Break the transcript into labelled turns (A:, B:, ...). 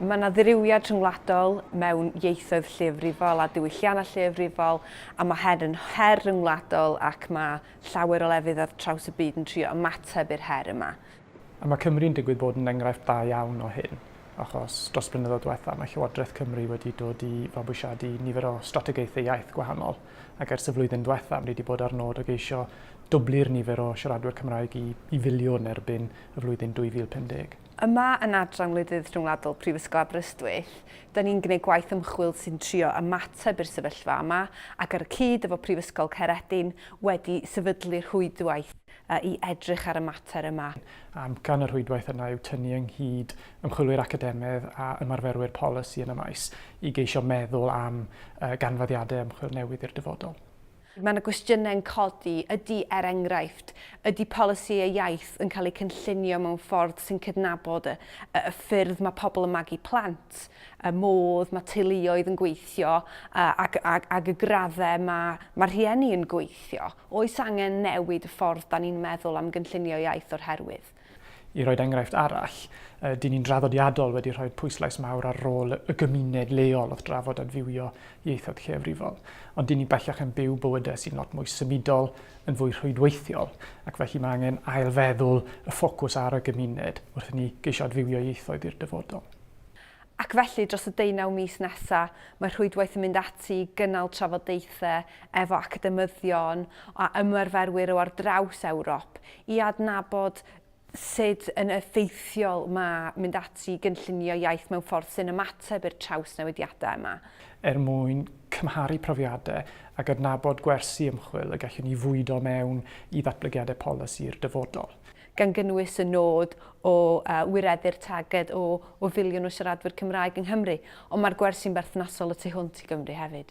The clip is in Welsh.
A: Mae yna ddirywiad rhyngwladol mewn ieithoedd lleiafrifol a diwylliannau lleiafrifol, a mae hyn yn her rhyngwladol ac mae llawer o lefydd ar draws y byd yn trio ymateb i'r her yma. A mae Cymru'n
B: digwydd bod yn enghraifft da iawn o hyn, achos dros y blynyddoedd diwethaf mae Llywodraeth Cymru wedi dod i fabwysiadu nifer o strategaethau iaith gwahanol, ac ers y flwyddyn diwethaf ni wedi bod ar nod o geisio dwblu'r nifer o siaradwyr Cymraeg i i filiwn erbyn y flwyddyn 2050. Yma yn Adran
A: Wledydd Rhyngwladol Prifysgol Aberystwyth, da ni'n gwneud gwaith ymchwil sy'n trio ymateb i'r sefyllfa yma ac ar y cyd efo Prifysgol Caeredin wedi sefydlu rhwydwaith i edrych ar y mater yma. Amcan y
B: rhwydwaith yna yw tynnu ynghyd ymchwilwyr academaidd a ymarferwyr polisi yn y maes i geisio meddwl am ganfyddiadau ymchwil newydd i'r dyfodol. Mae yna gwestiynau
A: yn codi, ydy, er enghraifft, ydy polisïau iaith yn cael eu cynllunio mewn ffordd sy'n cydnabod y, y, y ffyrdd mae pobl yn magu plant, y modd mae teuluoedd yn gweithio ac, ac, ac y graddau mae, mae rhieni yn gweithio? Oes angen newid y ffordd da ni'n meddwl am gynllunio iaith o'r herwydd? I roi'r enghraifft
B: arall, dyn ni'n draddodiadol wedi rhoi pwyslais mawr ar rôl y gymuned leol wrth drafod adfywio ieithoedd lleiafrifol, ond dyn ni bellach yn byw bywydau sy'n lot mwy symudol, yn fwy rhwydweithiol, ac felly mae angen ailfeddwl y ffocws ar y gymuned wrth i ni geisio adfywio ieithoedd i'r dyfodol. Ac
A: felly, dros y deunaw mis nesaf, mae Rhwydwaith yn mynd ati i gynnal trafodaethau efo academyddion a ymarferwyr o ar draws Ewrop i adnabod sut yn effeithiol mae mynd ati i gynllunio iaith mewn ffordd sy'n ymateb i'r trawsnewidiadau yma. Er mwyn
B: cymharu profiadau a gydnabod gwersi ymchwil y gellwn ni fwydo mewn i ddatblygiadau polisi'r dyfodol. gan gynnwys
A: y nod o wireddu'r targed o o filiwn o siaradwyr Cymraeg yng Nghymru, ond mae'r gwersi'n berthnasol y tu hwnt i Gymru hefyd.